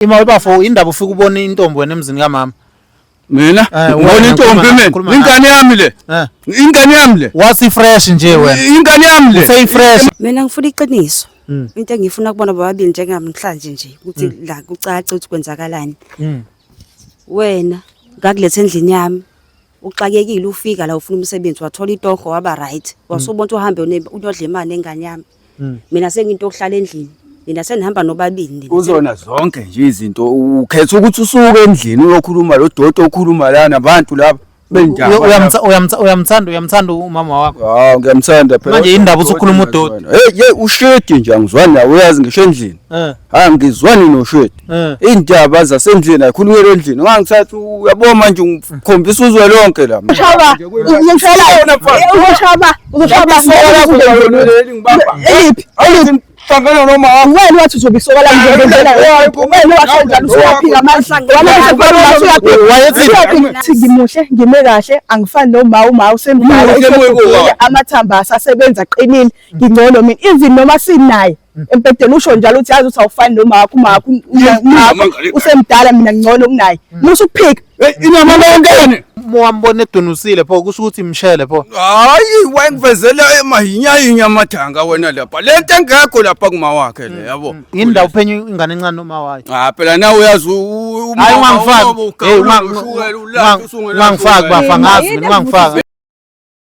Ima webafo indaba ufika ubona intombi wena emzini kamama. Mina Eh, ngibona wena, intombi khuluma- mina. khuluma Ingane yami le. Eh. Ingane yami le. Wasi fresh nje wena. Ingane yami le. Say fresh. mina ngifuna iqiniso Mm. into engifuna kubona bobabili njengamhlanje nje ukuthi la kucace ukuthi kwenzakalani Mm. wena ngakuletha endlini yami uxakekile ufika la ufuna umsebenzi wathola itoho waba right wasubona ukuthi uhambe une- uyodla imali engane yami Mm. mina senginto yokuhlala endlini nina senihamba nobabili nina kuzona zonke nje izinto ukhetha ukuthi usuke endlini uyokhuluma lo doti okhuluma lana nabantu laba benjani Uyo- uyamtha- uyamtha- uyamthanda uyamthanda umama wakho hawu ngiyamthanda phela Manje yini ndaba uthi ukhuluma udoti? hey hey ushedi nje angizwani nawe uyazi ngisho endlini Eh. hayi ngizwani noshwethi eh. iy'ndaba zasendlini ayikhulumele endlini ngangithatha uyabo manje ngikhombisa uzwe lonke la ushaba ushaba ushaba ushaba hlangana noma wena wathi uzobisoko la ngizobenzela wena wathi njalo usuyaphika manje hlangana ngimuhle ngime kahle angifani noma uma usemdala amathamba asasebenza aqinile ngingcono mina even noma sinaye Mm. empedeni usho njalo uthi yazi uthi awufani nomawakho umawakho usemdala mina ngcono kunaye mm. musa ukuphika inama lonkene wambona edunusile pho kusho ukuthi mshele pho hayi wayengivezela emahinyahinya amathanga wena lapha le nto engekho lapha kuma wakhe le mm, yabo mm. yini ndawo uphenya ingane encane noma wayo ah phela nawe uyazi hayi ungangifaki ungangifaki bafa ngazi mina ungangifaki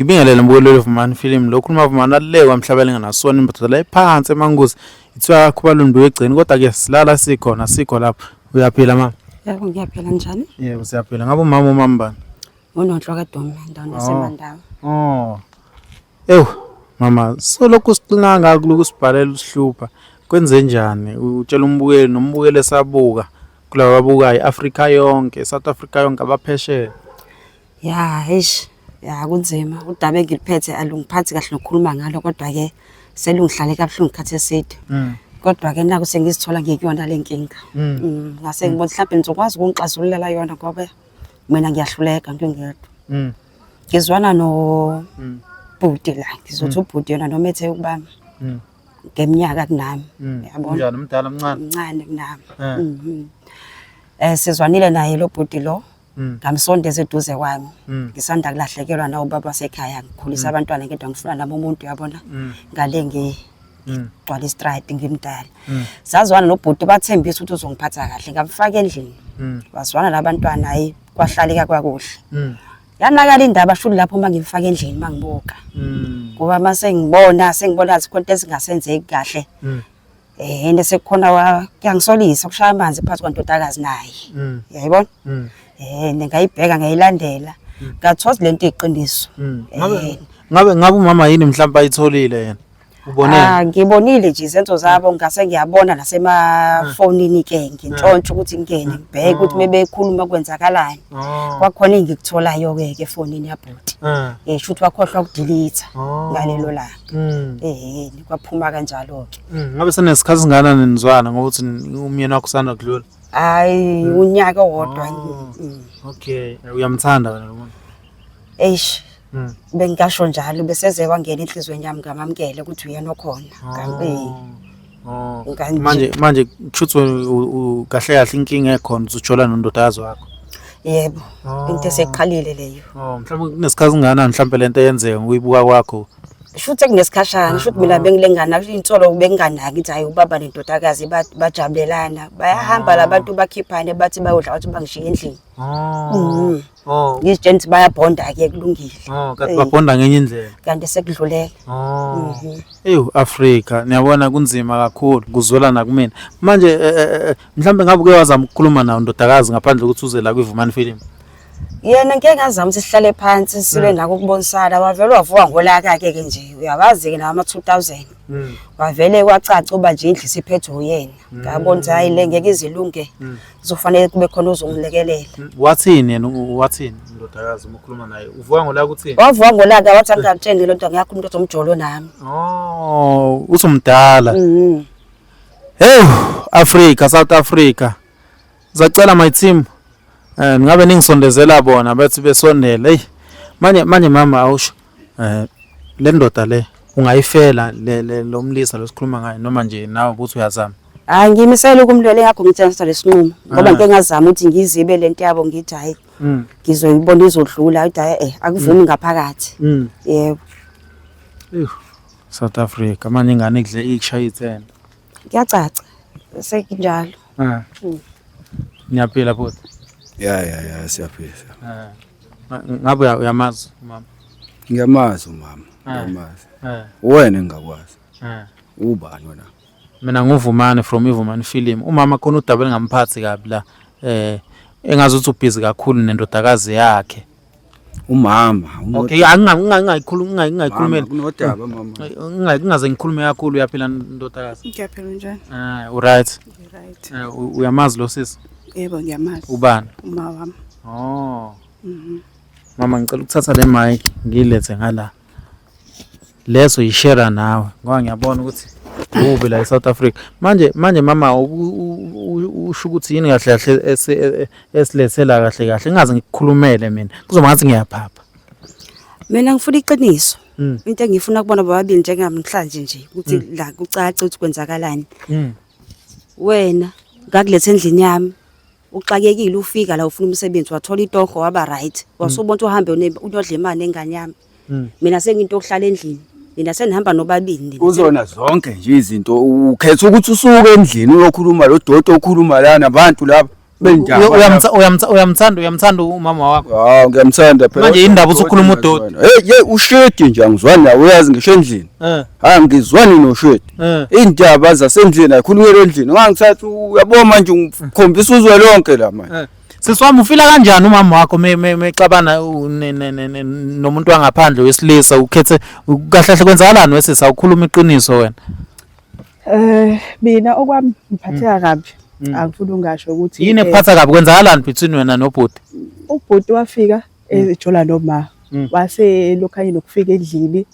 Ngibingelele mbukeleli Vumani Film lokhu uma Vumani alulekwa emhlabeni nganasona imbatho la iphansi emanguzi ithiwa khubaluni bewegcini kodwa ke silala sikhona sikho lapho uyaphila mama yebo ngiyaphila njani yebo siyaphila ngabe umama umama bani unonhlo kadomi endaweni yasemandawo oh. oh ewu mama solokhu sixina ngakho lokhu sibhalela usihlupha kwenze njani utshela umbukeli nombukeli esabuka kulaba babukayo i-afrika yonke south africa yonke abaphesheya Ya eish ya kunzima udaba engiliphethe alungiphathi kahle nokukhuluma ngalo kodwa ke selungihlale kabuhlungu isikhathi eside. Mm. Kodwa ke naku sengizithola ngikuyona le nkinga. Mm. Mm, ngase ngibona mhlawumbe nizokwazi ukungixazululela yona ngoba mina ngiyahluleka ngingedwa. Mm. Ngizwana no Mm. bhuti la ngizothi ubhuti yona noma ethe ukuba Mm. ngeminyaka kunami Mm. yabona Unjani umdala omncane? mncane kunami. Eh. Mhm. Eh sizwanile naye lo bhuti lo Mm. ngamsondeza eduze kwami mm. ngisanda kulahlekelwa nawo baba wasekhaya ngikhulisa mm. abantwana ngedwa ngifuna nami umuntu uyabona ngale ngigcwala istride ngimdala sazwana nobhuti bathembisa ukuthi uzongiphatha kahle ngamfaka endlini bazwana labantwana hayi kwahlaleka kwakuhle yanakala indaba shulu lapho uma ngimfaka endlini uma ngibuka ngoba uma sengibona sengibona zikhonto ezingasenzeki kahle Eh and sekukhona wa kuyangisolisa ukushaya amanzi phansi kwantodakazi naye. Mm. Yayibona? Mm. Eh ngayibheka ngayilandela. Mm. Ngathoza lento iqiniso. Mm. Eh, ngabe ngabe ngabe umama yini mhlawumbe ayitholile yena? Ubone? Ah ngibonile nje izenzo zabo ngase ngiyabona nasemafonini ke ngintshontsha ukuthi ngene ngibheke ukuthi mebekhuluma kwenzakalani. Kwakhona engikutholayo ke ke fonini yabhuti. Eh shuthi wakhohlwa ukudelete ngalelo langa. Mm. Eh, kwaphuma kanjalo ke. Mm, ngabe senesikhathi singana nenizwana ngokuthi umyeni wakho usanda kudlula. Hayi, mm. unyaka wodwa. Oh. Mm. Okay, uyamthanda wena lo muntu. Eish. Mm. Bengisho njalo beseze kwangena enhlizweni yami ngamamkele ukuthi uyena okhona. Oh. Kambe. Oh, Kanje. manje manje kushuthi wena u- u- kahle kahle inkinga ekhona uzojola nondodakazi wakho Yebo. Oh. Into eseqalile leyo. oh mhlawumbe kunesikhathi singanani mhlawumbe lento eyenzeka ngokuyibuka kwakho Shuthi kunesikhashana, shuthi mina bengilengana, shuthi insolo benginganaki ukuthi hayi ubaba nendodakazi ba- bajabulelana. Bayahamba labantu bakhiphane bathi bayodla bathi bangishiye endlini. Oh. Mhm. Oh. Ngizitshela ukuthi bayabhonda ke kulungile. Oh, kanti Eh. babhonda ngenye indlela. Kanti sekudluleke. Oh. Mhm. Ewu Africa niyabona kunzima kakhulu kuzwela nakumina. Manje eh, eh, eh, mhlambe ngabe uke wazama ukukhuluma nawo ndodakazi ngaphandle kokuthi uze la kwiVumani Film. Yena ngeke ngazama ukuthi sihlale phansi sibe nako ukubonisana wavele wavuka ngolaka ke ke nje uyawazi ke nawo ama 2000 Mm. wavele kwacaca uba nje indlu isiphethwe uyena ngabona ukuthi hayi le ngeke izilunge kuzofanele kube khona ozongilekelela wathini yena wathini indodakazi uma ukhuluma naye uvuka ngolaka uthini wavuka ngolaka wathi angitshengele into ngiyakho umuntu ozomjolo nami oh usumdala mhm hey Africa South Africa zacela my team eh ngabe ningisondezela bona bethi besondele hey manje manje mama awusho eh le ndoda le ungayifela le le- lo mlisa losikhuluma ngayo noma nje nawe ukuthi uyazama hayi ngimisele ukumlwela ingakho ngithatha lesinqumo ngoba Ah. ngike ngazama ukuthi ngizibe le nto yabo ngithi hhayi mm ngizoyibona izodlula ukuthi hhayi eh akuvumi ngaphakathi mm yebo Ewu, South Africa manje ingane kudle ikushaye ithenda kuyacaca sekunjalo ah ngiyaphila bhuti ya ya ya siyaphila siyaphila. ah Ngabe uyamazi umama? Ngiyamazi umama, eh. ngiyamazi. Eh. Uwena engakwazi. Eh. Ubani wena? Mina nguvumane from Ivumane film. Umama khona udaba elingamphathi kabi la. Eh engazi ukuthi ubhizi kakhulu nendodakazi yakhe. Umama. Okay, angingayikhuluma ngingayikhulumela. Kunodaba mama. Ngingaze ngikhulume kakhulu uyaphila ndodakazi. Ngiyaphila njani? Ah, u right. Right. Uyamazi lo sisi? Yebo ngiyamazi. Ubani? Uma wami. Oh. Mhm. Mama ngicela ukuthatha le mic ngilethe ngala. Leso yishare nawe ngoba ngiyabona ukuthi ubi la eSouth Africa. Manje manje mama usho ukuthi yini kahle kahle esilethela kahle kahle ngingaze ngikukhulumele mina. Kuzoba ngathi ngiyaphapha. Mina ngifuna iqiniso. Mm. Into engifuna kubona bobabili njengamhlanje nje ukuthi mm. la kucace ukuthi kwenzakalani. Mm. wena ngakuletha endlini yami uxakekile ufika la ufuna umsebenzi wathola itoho waba right hmm. wasubona ukuthi uhambe unyodla imali engane yami hmm. mina sengiyinto okuhlala endlini mina senihamba nobabini uzona zonke nje izinto ukhetha ukuthi usuke endlini uyokhuluma lo doti okhuluma lana abantu laba uyamthanda uyamthanda umama wakho hawu ngiyamthanda phela manje indaba usukhuluma udoti hey hey ushedi nje angizwani nawe uyazi ngisho endlini eh. ha ngizwani noshedi eh. indaba zasendlini ayikhulumela endlini ngangithatha uyabo manje ngikhombisa uzwe lonke la manje eh. siswami ufila kanjani umama wakho mexabana nomuntu wangaphandle wesilisa ukhethe kahle kahle kwenzakalani wesisa ukhuluma iqiniso wena Eh mina okwami ngiphatheka kabi. Mm. Angifuni ungasho ukuthi Yini eh, ephatha kabi kwenzakalani between wena nobhuti? ubhuti wafika Mm. ejola noma Mm. wase elokhanye nokufika endlini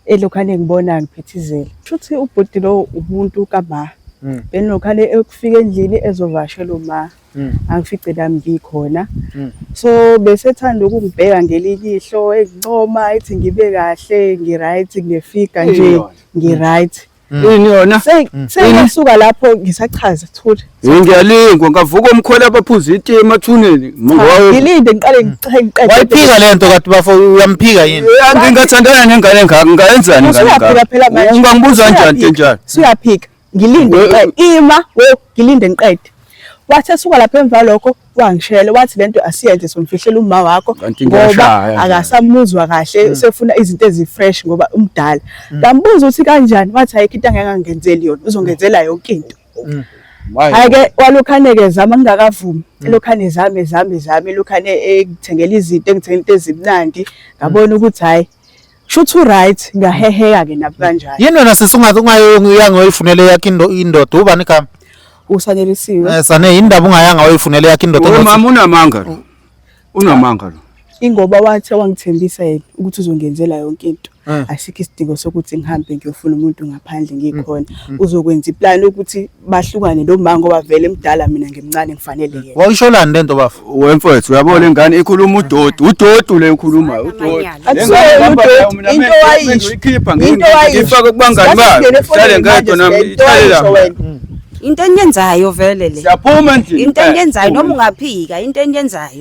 elokhane ngibona ngiphithizela. Shuthi ubhuti lo umuntu kama. Mm. Benokhane ekufika endlini ezovashela uma. mm. angifice lami ngikhona mm. so besethanda ukungibheka ngelilihlo engincoma ethi ngibe kahle ngiright nginefiga nje ngiright mm. yini yona sengiyasuka lapho ngisachaza thule ngiyalingwa ngavuka umkhwela abaphuza iti emathuneni ngilinde ngiqale ngiqede wayiphika le nto kade bafo uyamphika yini ngingathandana nengane ngaka ngayenzani ngane ngaka ungangibuza njani nje njani siyaphika ngilinde ngiqede ima wo ngilinde ngiqede wathi esuka lapha emva lokho wangishela wathi lento asiyenze somfihlela umma wakho ngoba akasamuzwa kahle hmm. usefuna izinto ezifresh ngoba umdala hmm. ngambuza ukuthi kanjani wathi ayikho into angangenzeli yona uzongenzela yonke into hmm. Ake walokhaneke zama ngingakavumi. Mm. Lokhane zame zame zame lokhane ekuthengelizithe ngithengelizithe ezimnandi ngabona ukuthi hayi Shuthi right ngiyaheheka ke nabi kanjani. Yini wena sisi ungathi ungayanga uyifunele yakhe indoda ubani igama? Usanelisiwe. Eh sane indaba ungayanga uyifunele yakhe indoda. Umama unamanga. Unamanga lo. Ingoba wathe wangithembisa yena ukuthi uzongenzela yonke into. Eh. Asikho isidingo sokuthi ngihambe ngiyofuna umuntu ngaphandle ngikhona. Mm, mm. Uzokwenza iplan ukuthi bahlukane lo mama ngoba vele mdala mina ngimncane ngifanele yena wawusholani lento bafo wemfowethu uyabona ingane ikhuluma udodi udodi le ukhuluma udodi akusona udodi into wayisho into wayisho ifaka kubangani bayo sale ngedwa nami ithale la into enyenzayo vele le siyaphuma endlini into enyenzayo noma ungaphika into enyenzayo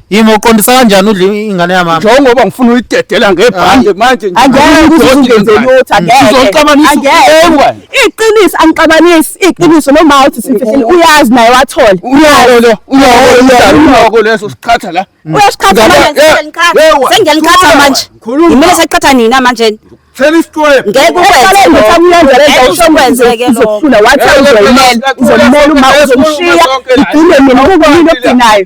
Yimi uqondisa kanjani udla ingane yamama? Njengoba ngifuna uyidedela ngebhande manje nje. Angeke ngizungeze lutho angeke. Uzoxabanisa ewe. Iqiniso angixabanisi iqiniso noma uthi simfihlile uyazi naye wathole. Uyoko lo uyoko uyoko leso siqhatha la. Mm. Uyasiqhatha manje sengiqhatha. Sengiqhatha manje. Ngimele seqhatha nina manje. Tell us to him. Ngeke ukwenze lokho. Ngeke usokwenze ke lokho. Uzofuna wathi uzomela. Uzomela uma uzomshiya. Idinge mina ukubona into ogcinayo.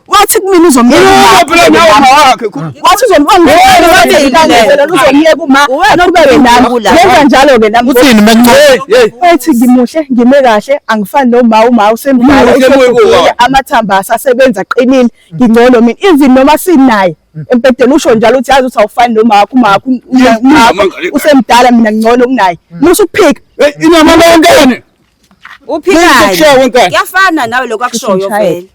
wathi kumina uzomyeka phela nawe mawakhe wathi uzomyeka uma anokubeke nami yenza njalo ke nami uthini menqobe wathi ngimuhle ngime kahle angifani noma uma usemdala amathamba asasebenza qinile ngingcono mina even noma sinaye mm. empedeni usho njalo uthi yazi uthi awufani noma wakho uma wakho usemdala mina ngcono kunaye musuphika inama lonke Uphikayo. Kushiya wenkani. Kuyafana nawe lokho akushoyo vele.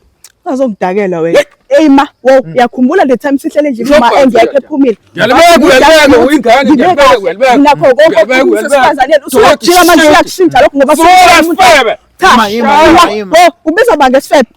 Azongidakela wena. Hey ma, wow, yakhumbula le time sihlele nje uma engekho ephumile. Yalibeka uyalibeka uyingane ngiyabeka uyalibeka. Nakho konke ukusifazaneni usuyajika manje uyakushintsha lokho ngoba sifebe. Cha, ubiza banga esifebe.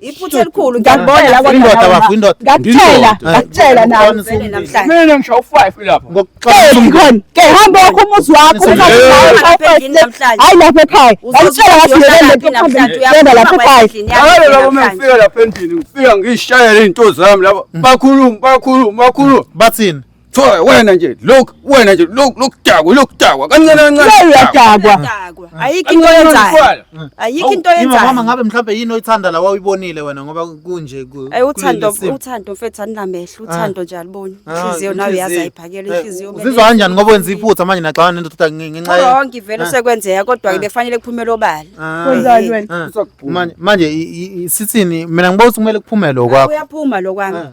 iphutha elikhulu ngiyakubona indoda bafo indoda ngakutshela ngakutshela nawe vele namhlanje mina ngisho u5 lapha ngokuxoxa khona ke hamba wakho umuzi wakho hayi lapha ekhaya ngakutshela ngathi ngeke namhlanje uyabona lapha ekhaya hayi lapho mengifika lapha endlini ngifika ngishayela izinto zami lapha bakhuluma bakhuluma bakhuluma bathini Thoya wena nje look wena nje look lokudakwa lokudakwa kancane kancane. Hey uyadakwa. Udakwa. Ayikho into yenzayo. Ayikho into Yini mama yenzayo. ngabe mhlawumbe yini oyithanda la wawuyibonile wena ngoba kunje ku. Ayi uthando kuleli simo. uthando mfethu anamehlo uthando nje aliboni. Ah, Inhliziyo nawe inhliziyo. yazi ayiphakela Eh, inhliziyo. Uzizwa kanjani ngoba wenza iphutha manje naxabana nendoda nge- ngenxa ye- Wrong ivele Ah. sekwenzeka kodwa ke befanele kuphumela obala. Ah, Kwenzani wena? ah. Manje manje i- i- i- sithini mina ngiba ukuthi kumele kuphume lo kwakho. Uyaphuma lo kwami. Ah.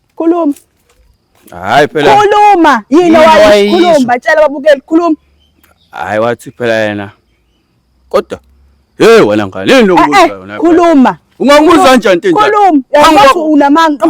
Khuluma. Hayi phela. Khuluma. Yini wayikhuluma? Batshela babukeli khuluma. Hayi wathi phela yena. Kodwa hey wena ngane yini lokuzwa eh, eh, yona? Khuluma. Ungangibuza kanjani into enjalo? Khuluma. Yazi unamanga.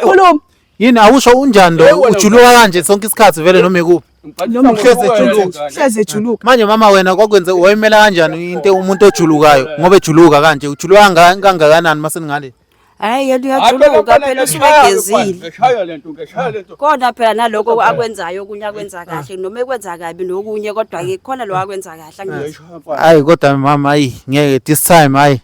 Khuluma. Yini awusho unjani lo ujuluka kanje sonke isikhathi vele noma ikuphi? Noma uhleze ejuluka. Uhleze ejuluka. Manje mama wena kwakwenze wayimela kanjani into umuntu ojulukayo ngoba ejuluka kanje ujuluka kangakanani maseningale? Hayi yena uyajuluka phela usuke egezile. Eshaya lento ngeshaya lento. Kodwa phela naloko akwenzayo okunye akwenza ah. kahle noma ekwenza kabi nokunye kodwa ke khona lo akwenza kahle angithi. Hayi kodwa mama ayi ngeke this time hayi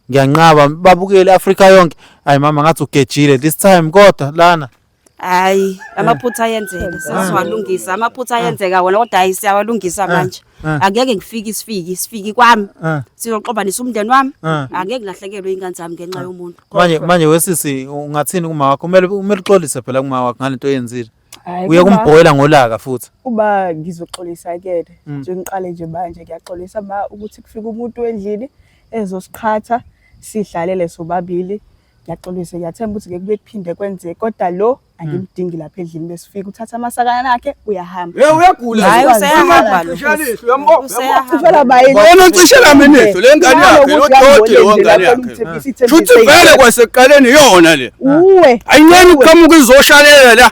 ngiyanqaba babukele Africa yonke. Hayi mama ngathi ugejile this time kodwa lana. hayi amaphutha ayenzeka sesiwalungisa amaphutha ayenzeka wona kodwa hayi siyawalungisa manje Ah. angeke ngifike isifiki isifiki kwami Ah. sizoxobanisa umndeni wami Ah. angeke ngilahlekelwe ingane zami ngenxa yomuntu manje manje wesisi ungathini kuma wakho kumele kumele uxolise phela kuma wakho ngalento oyenzile Hhayi, uye kuma- kumbhoyela ngolaka futhi uma ngizoxolisa kuyena Mm. nje ngiqale nje manje ngiyaxolisa ma ukuthi kufika umuntu endlini ezosiqhatha sidlalele sobabili ngiyaxolisa ngiyathemba ukuthi ngeke kuphinde kwenzeke kodwa lo angimdingi hmm. lapha edlini besifika uthatha amasakana akhe uyahamba hey uyagula hayi useyahamba lo useyahamba bayini ucishela minetho le ngane yakhe lo doti lo ngane yakhe shuthi vele kwasekuqaleni yona le uwe ayinyeni uqhamuka izoshalela la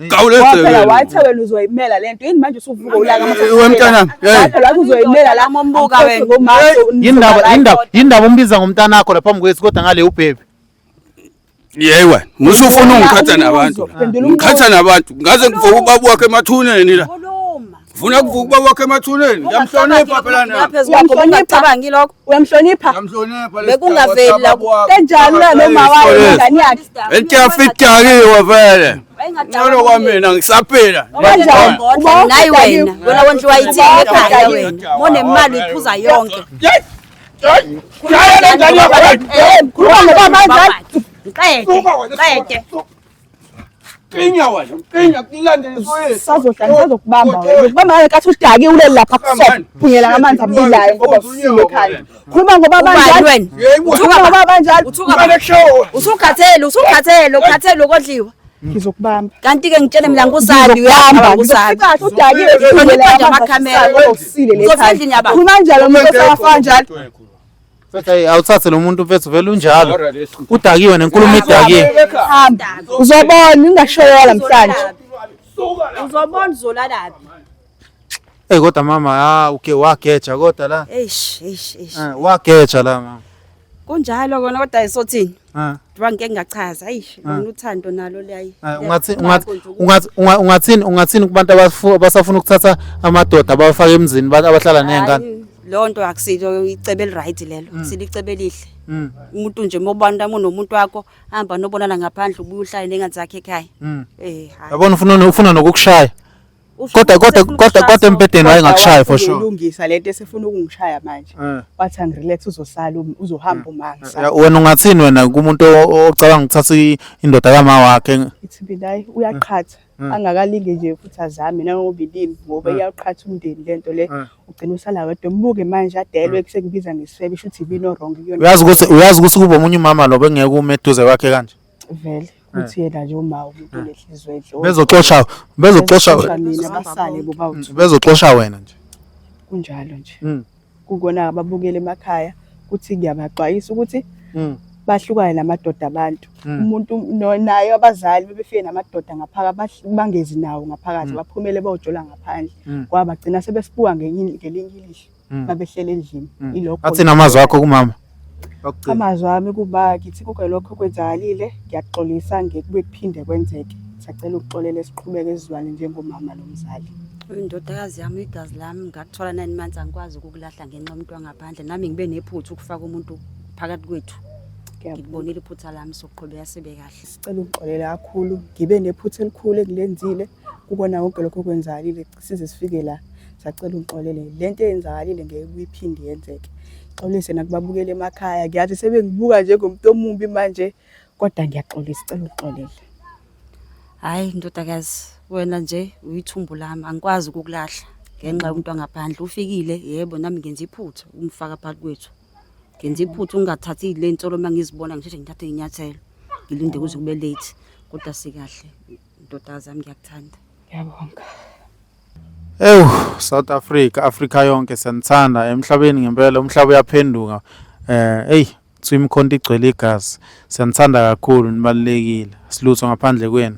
Waphela wathi wena uzoyimela lento yini manje usuvuka ulaka mntana waphela wathi uzoyimela la mombuka wena yindaba yindaba yindaba umbiza ngomntana wakho lapha mkwethu kodwa ngale ubhebe Yey wena musufuna ungikhatha nabantu ngikhatha nabantu ngaze ngivuka ubaba wakhe emathuneni la Funa kuvuka uba wakhe emathuneni. Ngiyamhlonipha phela na. Lapha ezibakho ungacabangi lokho. Uyamhlonipha? Ngiyamhlonipha lesi. Bekungaveli la. Kanjalo la noma wayo ingane yakhe. Elityafidakiwe vele. Ngcono kwamina ngisaphila. Kanjalo. Nayi wena. Wena wonke wayithini ekhaya wena. Mone imali iphuza yonke. Yes. Khuluma nobaba kanjani? Qede. Qede. Qinya wena, qinya kulandele soyethu. Sazohlala ngizokubamba wena. Ngikubamba ngeke kathi udake ulele lapha kusona. Phunyela ngamanzi abilayo ngoba usile ekhaya. Khuluma ngoba banjani? Khuluma ngoba banjani? Usukhathele, usukhathele, ukhathele ukodliwa. Ngizokubamba. Kanti ke ngitshele mina ngusali uyahamba ngusali. Udake uhlonipha amakhamera. Usile le ekhaya. Khuluma njalo umuntu osafana njalo. Mfethu hey, awuthathe lo muntu mfethu vele unjalo. Udakiwe nenkulumo idakiwe. Hamba. Uzobona ungashoyola namhlanje. Uzobona uzolalaphi. Hey kodwa mama ha uke wageja kodwa la. Eish eish eish. Eh, Wageja la mama. Kunjalo kona kodwa isothini. Ah. Ngoba ngeke ngachaza ayi ah. lona uthando nalo liyayi. Ah, ungathi ungathi ungathi ungathini ungathini kubantu abasafuna ukuthatha amadoda abafake emzini abahlala nezingane. Lo nto akusilo icebe eliright lelo. Mm. Silicebe elihle. Mm. Umuntu nje mobantu amunomuntu wakho hamba nobonana ngaphandle ubuye uhlale nengane zakhe ekhaya. Mm. Eh hayi. Yabona ufuna ufuna nokukushaya. Kodwa kodwa kodwa kodwa embedeni wayengakushaya for sure. Ulungisa lento esefuna ukungishaya manje. Eh. Wathi angirelax uzosala um, uzohamba eh. umangisa. Eh, wena ungathini wena kumuntu ocabanga ukuthatha indoda kama wakhe? Ithi bilayi uyaqhatha. angakalinge nje futhi azame nangoba ilimi ngoba iyaqhatha umndeni lento le ugcina usala wedwa mbuke manje adelwe kusekubiza ngesifebe shuthi ibino wrong kuyona uyazi ukuthi uyazi ukuthi kuba omunye umama lo bengeke ume eduze kwakhe kanje vele ukuthi eh. yena nje uma umuntu eh. onenhliziyo enhle oh, bezoxosha bezoxosha mina basale boba mm, bezoxosha wena nje kunjalo nje mm. kukona ababukele emakhaya ukuthi ngiyabaxwayisa ukuthi mm. bahlukane namadoda abantu umuntu naye abazali bebefike namadoda ngaphakathi bangezi nawo ngaphakathi baphumele bayojola ngaphandle kwabagcina sebesibuka ngelinye ilihlo Mm. babehlele endlini mm. ilokho athi namazwi akho kumama amazwi ami kuba ngithi kuke lokho kwenzakalile ngiyaxolisa ngekube kuphinde kwenzeke sacela ukuxolela esiqhubeke esizwane njengomama nomzali indodakazi yami igazi lami ngakuthola nine months angikwazi ukukulahla ngenxa umuntu wangaphandle nami ngibe nephutha ukufaka umuntu phakathi kwethu ngikubonile iphutha lami sokuqhubeka sibe kahle sicela ukuxolela kakhulu ngibe nephutha elikhulu engilenzile kukona konke lokho kwenzakalile size sifike la sacela ungixolele le nto eyenzakalile ngeke kuyiphinde yenzeke xolise nakubabukela emakhaya ngiyazi sebengibuka njengomuntu omubi manje kodwa ngiyaxolisa cela ungixolele hhayi ndodakazi wena nje uyithumbu lami angikwazi ukukulahla ngenxa yomuntu wangaphandle ufikile yebo nami ngenza iphutha umfaka phakathi kwethu ngenza iphutha ungathathi le nsolo uma ngizibona ngisheshe ngithathe inyathelo ngilinde kuze kube late kodwa sikahle Ndodazi yami ngiyakuthanda. Ngiyabonga. Ewu South Africa, Africa yonke siyanithanda emhlabeni ngempela umhlaba uyaphenduka. Eh hey kuthiwa imikhonto igcwele igazi. Siyanithanda kakhulu nibalulekile. Silutho ngaphandle kwenu.